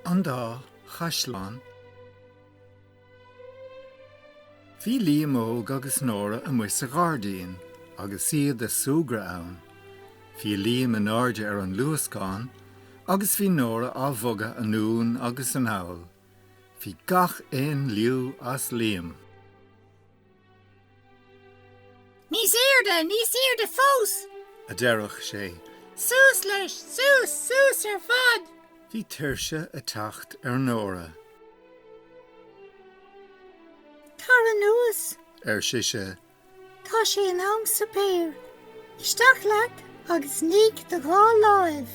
An Dá Chaisleán Bhí Liam Óg agus Nóra amuigh sa ghairdín agus iad a' súgradh ann. Bhí Liam in airde ar an luascán agus bhí Nóra á bhogadh anonn agus anall. Bhí gach aon liú as Liam. Níos airde, níos airde fós! a deireadh sé. Suas leis, suas, suas ar fad! Bhí tuirse a' teacht ar Nóra. Tar anuas! ar sise. Tá sé in am suipéir. Isteach leat agus nigh do dhá láimh.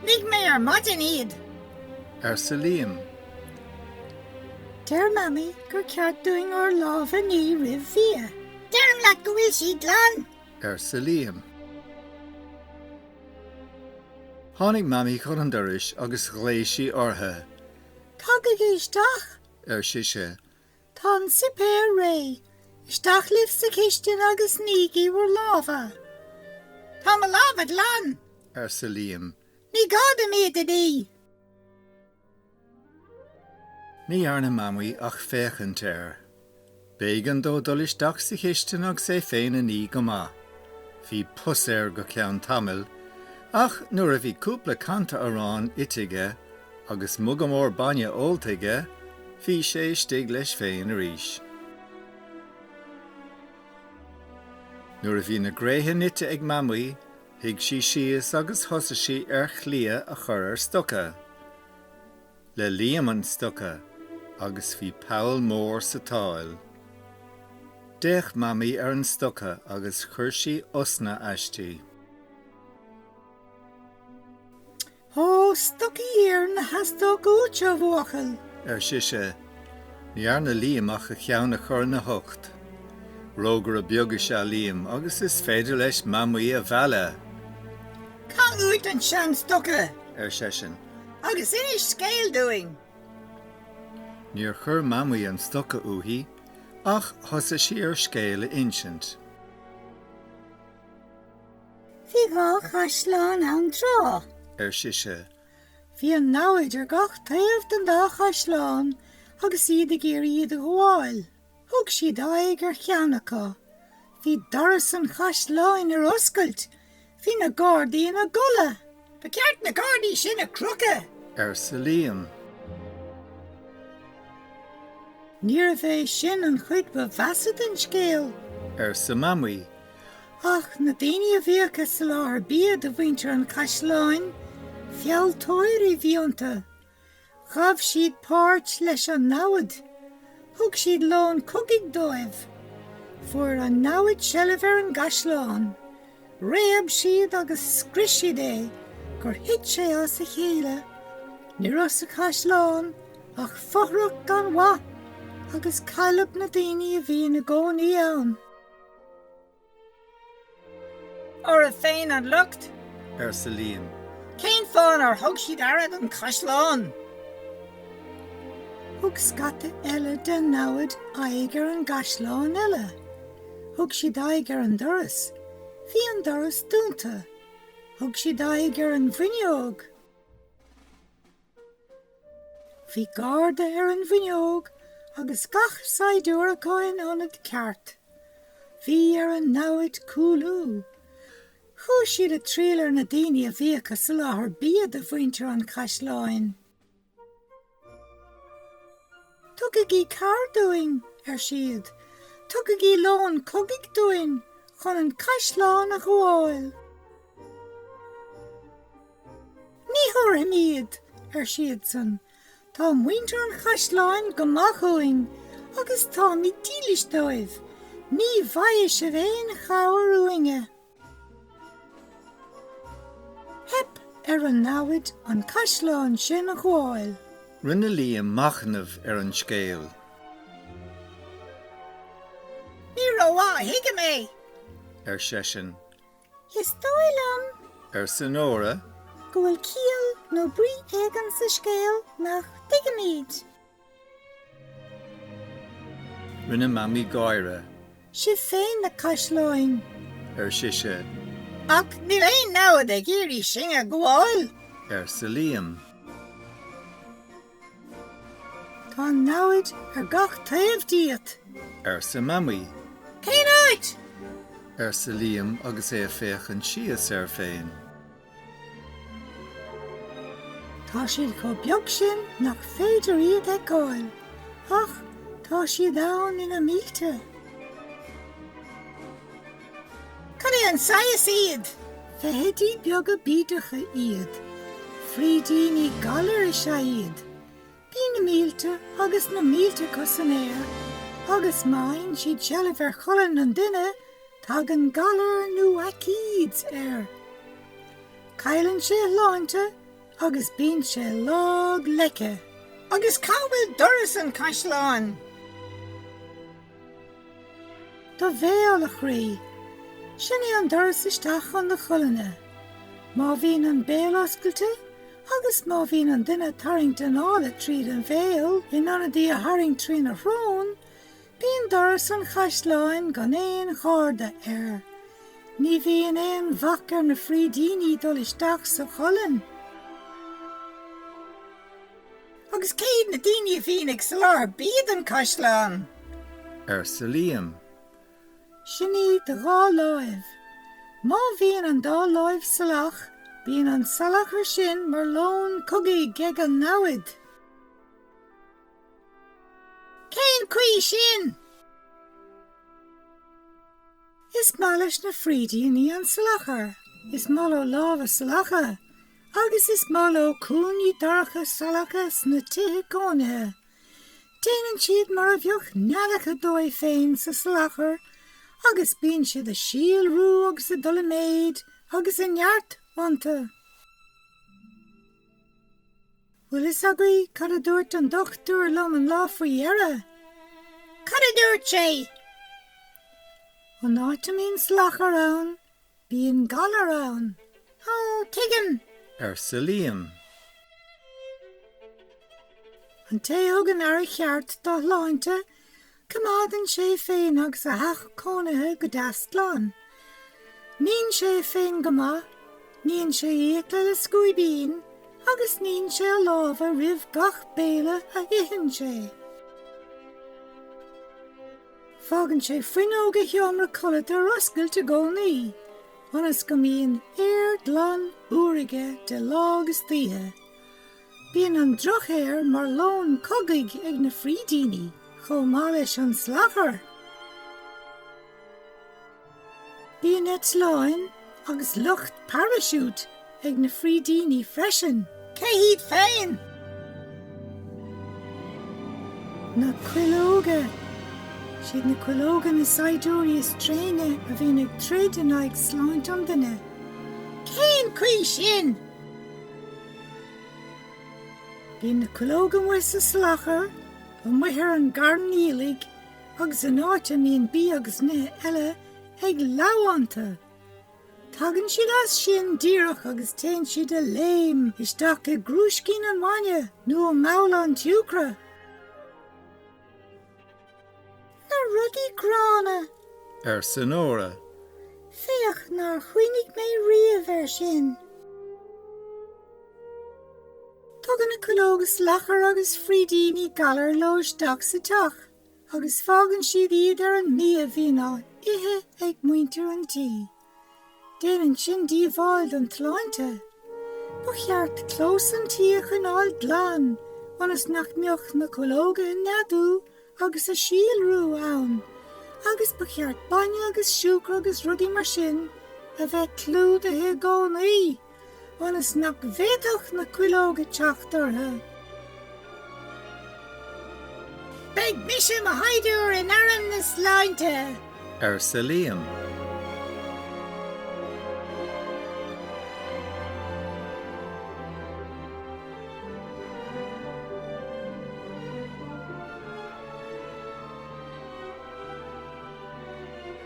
Nigh mé ar maidin iad. arsa Liam. Deir Mamaí gur ceart dúinn ár lámha a ní roimh bhia. Deirim leat go bhfuil siad glan. arsa Liam. Tháinig Mamaí chun an dorais agus ghlaoigh sí orthu. Tagaigí isteach. ar sise. Tá an suipéar réidh. Isteach libh sa chistin agus nígí bhur lámha. Tá mo lámha glan! arsa Liam. Ní gá dom iad a ní! Ní dhearna Mamaí ach féachaint air. B'éigean dó dul isteach sa chistin agus é féin a ní go maith. Bhí pus air go ceann tamaill, ach nuair a bhí cúpla canta aráin ite aige, Agus muga mór bainne ólta aige, bhí sé istigh leis féin arís. Nuair a bhí na gréithe nite ag Mamaí, shuigh sí síos agus thosaigh sí ar chliath a chur ar stoca. Le Liam an stoca, agus bhí poll mór sa tsáil. D'fhéach Mamaí ar an stoca agus chuir sí osna aisti. Ó, stocaí iarainn a theastódh uait, a bhuachaill! ar sise. Ní dhearna Liam ach a cheann a chur ina hucht. Rógaire beag is ea Liam agus is féidir leis mamaí a mhealladh. Caith uait an seanstoca! ar seisean, agus inis scéal dúinn! Níor chuir mamaí an stoca uaithi, ach thosaigh sí ar scéal a insint. Bhí dhá chaisleán ann tráth. ar sise. Bhí an namhaid ar gach taobh den dá chaisleán agus iad ag iarraidh iad a ghabháil. Thug siad aghaidh ar cheann acu. Bhí doras an chaisleáin ar oscailt. Bhí na gardaí ina gcodladh. Ba cheart na gardaí sin a chrochadh! arsa Liam. Níorbh é sin an chuid ba mheasa den scéal, arsa Mamaí, ach na daoine a bhíodh ag soláthar bia do mhuintir an Chaisleáin, fealltóirí a bhí iontu. Ghabh siad páirt leis an namhad. Thug siad lón cogaidh dóibh. Fuair an namhaid seilbh ar an gcaisleán. Réab siad agus scrios siad é gur thit sé as a chéile. Ní raibh sa caisleán ach fothrach gan mhaith agus cailleadh na daoine a bhí ina gcónaí ann. Orthu féin an locht! arsa Liam. Cén fáth nár thug siad aire don chaisleán? Thug scata eile den namhaid aghaidh ar an gcaisleán eile. Thug siad aghaidh ar an doras. Bhí an doras dúnta. Thug siad aghaidh ar an bhfuinneog. Bhí garda ar an bhfuinneog agus gach saighdiúir acu ina ionad ceart. Bhí ar an namhaid cúlú. Chuaigh siad ag triall ar na daoine a bhíodh ag soláthar bia do mhuintir an chaisleáin. Tugaigí cabhair dúinn, ar siad. Tugaigí lón cogaidh dúinn chun an caisleán a ghabháil. Ní thabharfaimid, ar siadsan. Tá muintir an chaisleáin go maith dhúinn agus táimid dílis dóibh. Ní bhfaighidh sibh aon chabhair uainne. Theip ar an namhaid an caisleán sin a ghabháil. Rinne Liam machnamh ar an scéal. Ní rómhaith a thuigim é! ar seisean. Is dóigh liom. arsa Nóra. go bhfuil ciall nó brí éigin sa scéal nach dtuigimid. Rinne Mamaí gáire. Sibh féin na caisleáin, ar sise. Ach níl aon namhad ag iarraidh sinn a ghabháil. arsa Liam. Tá namhaid ar gach taobh díot. arsa Mamaí. Cén áit? arsa Liam agus é ag féachaint síos air féin. Tá siad chomh beag sin nach féidir iad a fheiceáil, ach tá siad ann ina mílte. Cad é an saghas iad? Feithidí beaga bídeacha iad. Frídíní galair is ea iad. Bíonn na mílte agus na mílte acu san aer, agus má fhaigheann siad seilbh ar cholainn an duine, tagann galar nó aicíd air. Cailleann sé a shláinte agus bíonn sé lag leice. Agus cá bhfuil doras an chaisleáin? Do bhéal, a chroí. Sin é an doras isteach chun do cholainne. Má bhíonn an béal oscailte, Agus má bhíonn an duine ag tarraingt anála tríd an bhéal in ionad í a tharraingt trína shrón, bíonn doras an chaisleáin gan aon gharda air. Ní bhíonn aon bhac ar na frídíní dul isteach sa cholainn. Agus cé hiad na daoine a bhíonn ag soláthar bia don chaisleán? arsa Liam. Sin iad do dhá láimh. Má bhíonn an dá láimh salach, bíonn an salachar sin mar lón cogaidh ag an namhaid. Cén chaoi sin? Is maith leis na frídíní an salachar, is maith leo lámha salacha, agus is maith leo cúinní dorcha salacha sna tithe cónaithe. Déanann siad mar a bheadh neadacha dóibh féin sa salachar agus bíonn siad ag síolrú agus ag dul i méid agus i neart iontu. Bhfuil fhios agaibh cad a dúirt an dochtúir liom an lá faoi dheireadh? Cad a dúirt sé? An áit a mbíonn salachar ann, Bíonn galar ann. Ó, tuigim, arsa Liam. An té a thugann aire cheart dá shláinte, coimeádann sé é féin agus a theach cónaithe go deas glan. Níonn sé é féin go maith, níonn sé a fhiacla le scuaibín, agus níonn sé a lámha roimh gach béile a itheann sé. Fágann sé fuinneog a sheomra codlata ar oscailt i gcónaí, ionas go mbíonn aer glan úr aige de lá agus d'oíche. Bíonn an drochaer mar lón cogaidh ag na frídíní, chomh maith leis an salachar! Bíonn eitleáin agus lucht paraisiút ag na frídíní freisin. Cé hiad féin? Na cuileoga. Siad na cuileoga na saighdiúirí is tréine a bhíonn ag troid in aghaidh sláinte an duine. Cén chaoi sin? Bíonn na cuileoga amuigh sa salachar, amuigh ar an gcarn aoiligh, agus in áit a mbíonn bia agus nithe eile ag lobhadh iontu, tagann siad as sin díreach agus téann siad de léim isteach i gcrúiscín an bhainne nó i mbabhla an tsiúcra. Na rudaí gránna! arsa Nóra. Féach nár chuimhnigh mé riamh air sin. Tugann na cuileoga salachar agus frídíní galair leo isteach sa teach agus fágann siad iad ar an mbia a bhíonn á ithe ag muintir an tí. Déanann sin díobháil don tsláinte. Ba cheart clós an tí a choinneáil glan ionas nach mbeadh na cuileoga ag neadú agus ag síolrú ann agus ba cheart bainne agus siúcra agus rudaí mar sin a bheith clúdaithe i gcónaí. ionas nach bhféadfadh na cuileoga teacht orthu. Beidh mise i mo shaighdiúr in arm na sláinte! arsa Liam.